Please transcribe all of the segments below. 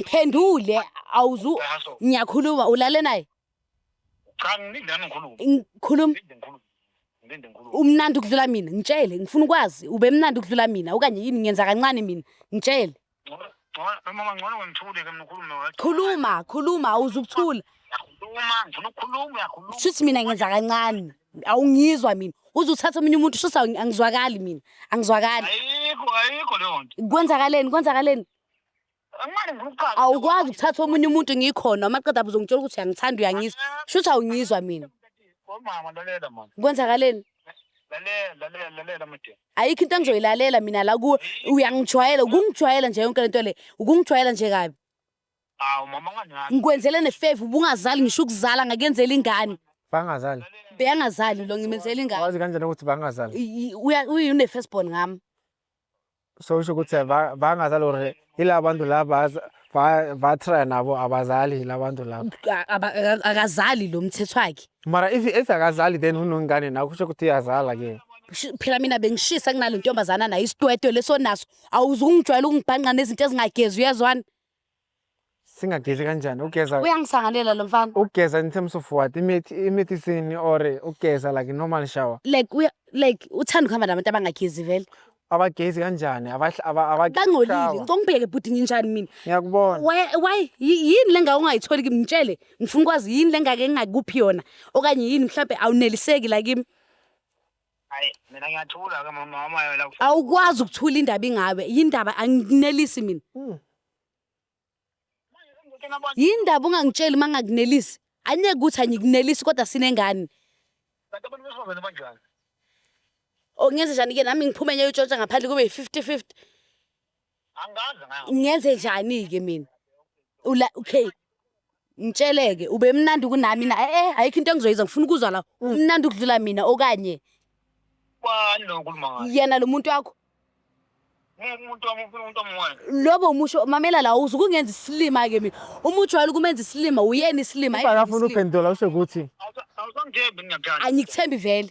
phendule awuzu ngiyakhuluma ulale naye cha ngilinde nami ngikhulume ngikhuluma ngilinde ngikhulume ngilinde ngikhulume umnandi ukudlula mina ngitshele ngifuna ukwazi ube mnandi ukudlula mina okanye yini ngenza kancane mina ngitshele mama ngcono ngithule ke mkhulume khuluma khuluma awuzukuthula khuluma ngifuna ukukhuluma uyakhuluma shuthi mina ngenza kancane awungizwa mina uze uthathe omunye umuntu shuthi angizwakali mina angizwakali ayikho ayikho leyo nto kwenzakaleni kwenzakaleni awukwazi ukuthatha omunye umuntu ngikhona uma qeda uzongitshela ukuthi uyangithanda uyangizwa sho ukuthi awungizwa mina kwenzakaleni ayikho into engizoyilalela mina la kuwe uyangijwayela ukungijwayela nje yonke lento le ukungijwayela nje kabi ngikwenzele nefeva ubungazali ngisho ukuzala ngakuyenzela ingane bangazali beyangazali lo ngimenzela ingane wazi kanjani ukuthi bangazali uyi-first born ngami So kusho ukuthi bangazi lore ila bantu laba batry nabo abazali ila bantu laba. A- aba- aka- akazali lo mthetho wakhe Mara if if akazali then unongane nawe kusho ukuthi uyazala ke. Shi- phela mina bengishisa kunale ntombazana nayo isitwetwe leso naso awuzungijwayela ukungibhanqa nezinto ezingagezi uyezwana singagezi kanjani ugeza uyangisangalela lo mfana ugeza in terms of what imithi imithi isini or ugeza like normal shower like uya like uthanda ukuhamba nabantu abangagezi vele abagezi kanjani bangcolile ngicela ungibheke bhuti nginjani mina ngiyakubona why yini le ngake ungayitholi kimi ngitshele ngifuna ukwazi yini le ngake ngingakuphi yona okanye yini mhlawumbe awuneliseki la kimi Hayi mina ngiyathula ke mama mama yona kufa. awukwazi ukuthula indaba ingawe yindaba anginelisi mina yindaba ungangitsheli uma ngakunelisi anyeke ukuthi angikunelisi kodwa sinengane Kanti abantu besifazane banjani? ongenze njani-ke nami ngiphume ngiyoyitshontsha ngaphandle kube yi-fifty fifty ngenze njani-ke mina ula okay ngitsheleke ube mnandi kunami na e-e eh, eh, ayikho into engizoyiza ngifuna ukuzwa la umnandi ukudlula mina okanye yena lo muntu wakho lobo umusho mamela la uze ukungenza isilima ke mina uma ujwayele ukumenza isilima uyena isilima akafuna uphendula usho ukuthi angikuthembi vele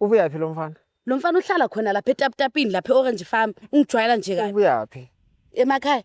Ubuyaphi lo mfana? Lo mfana uhlala khona lapha etaputapini lapha e-Orange Farm. Ungijwayela nje kabi. Ubuyaphi? Emakhaya.